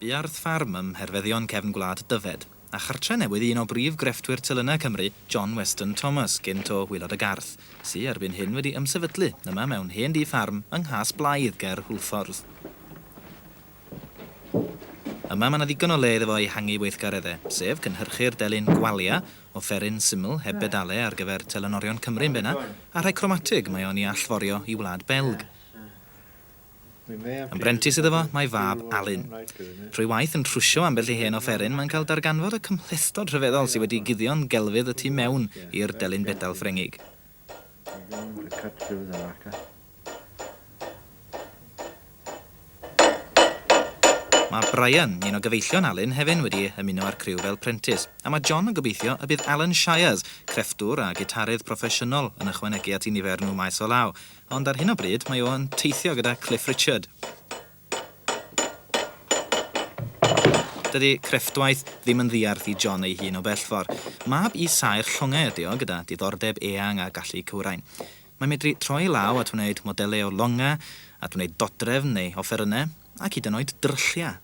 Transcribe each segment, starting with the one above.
Bu Ardd Ffarm ym Mherfeddion cefn gwlad Dyfed, a chartre newydd i un o brif grefftwyr telynau Cymru, John Weston Thomas, gynt o Wylod y Garth, sy erbyn hyn wedi ymsefydlu yma mewn hen dŷ ffarm yng Nghas Blaidd ger Hwlffordd. Yma mae 'na ddigon o le iddo fo ei hangu weithgaredde, sef cynhyrchu'r delyn gwalia, offeryn syml heb bedale ar gyfer telynorion Cymru yn benna, a rhai cromatig mae o'n 'i allforio i wlad Belg. Yn brentis iddo fo, mae fab Alun. Trwy waith yn trwsio ambell i hen offeryn, mae'n cael darganfod y cymhlethdod rhyfeddol sy wedi guddio'n gelfydd y tu mewn i'r delyn bedal Ffrengig. Mae Brian, un o gyfeillion Alun, hefyn wedi ymuno â'r criw fel prentis, a mae John yn gobeithio y bydd Alan Shires, crefftwr a gitarydd proffesiynol, yn ychwanegu at 'i nifer nhw maes o law, Ond ar hyn o bryd mae o yn teithio gyda Cliff Richard. Dydy crefftwaith ddim yn ddiarth i John ei hun o bellfor. Mab i saer llongau ydy o, gyda diddordeb eang a gallu cywrain. Mae'n medru troi ei law at wneud modelau o longau, at wneud dodrefn neu offerynnau, ac hyd yn oed drylliau.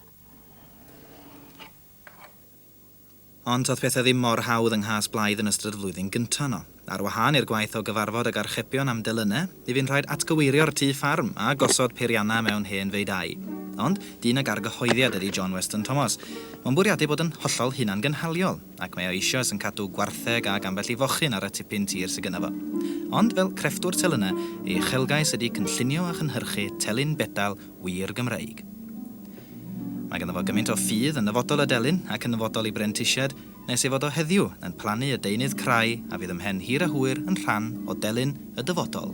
Ond doedd pethau ddim mor hawdd yng nghas Blythe yn ystod y flwyddyn gyntaf yno. Ar wahân i'r gwaith o gyfarfod ag archebion am delynau, mi fu'n rhaid atgyweirio'r tŷ ffarm a gosod peiriannau mewn hen feudau. Ond dyn ag argyhoeddiad ydi John Weston Thomas. Mae'n bwriadu bod yn hollol hunangynhaliol, ac mae o eisioes yn cadw gwartheg ac ambell i fochyn ar y tipyn tir sy gynno fo. Ond fel crefftwr telynau, ei uchelgais ydi cynllunio a chynhyrchu telyn bedal wir Gymreig. Mae ganddo fo gymaint o ffydd yn nyfodol y delyn ac yn nyfodol ei brentisiad nes ei fod o heddiw yn plannu y deunydd crai a fydd ymhen hir a hwyr yn rhan o delyn y dyfodol.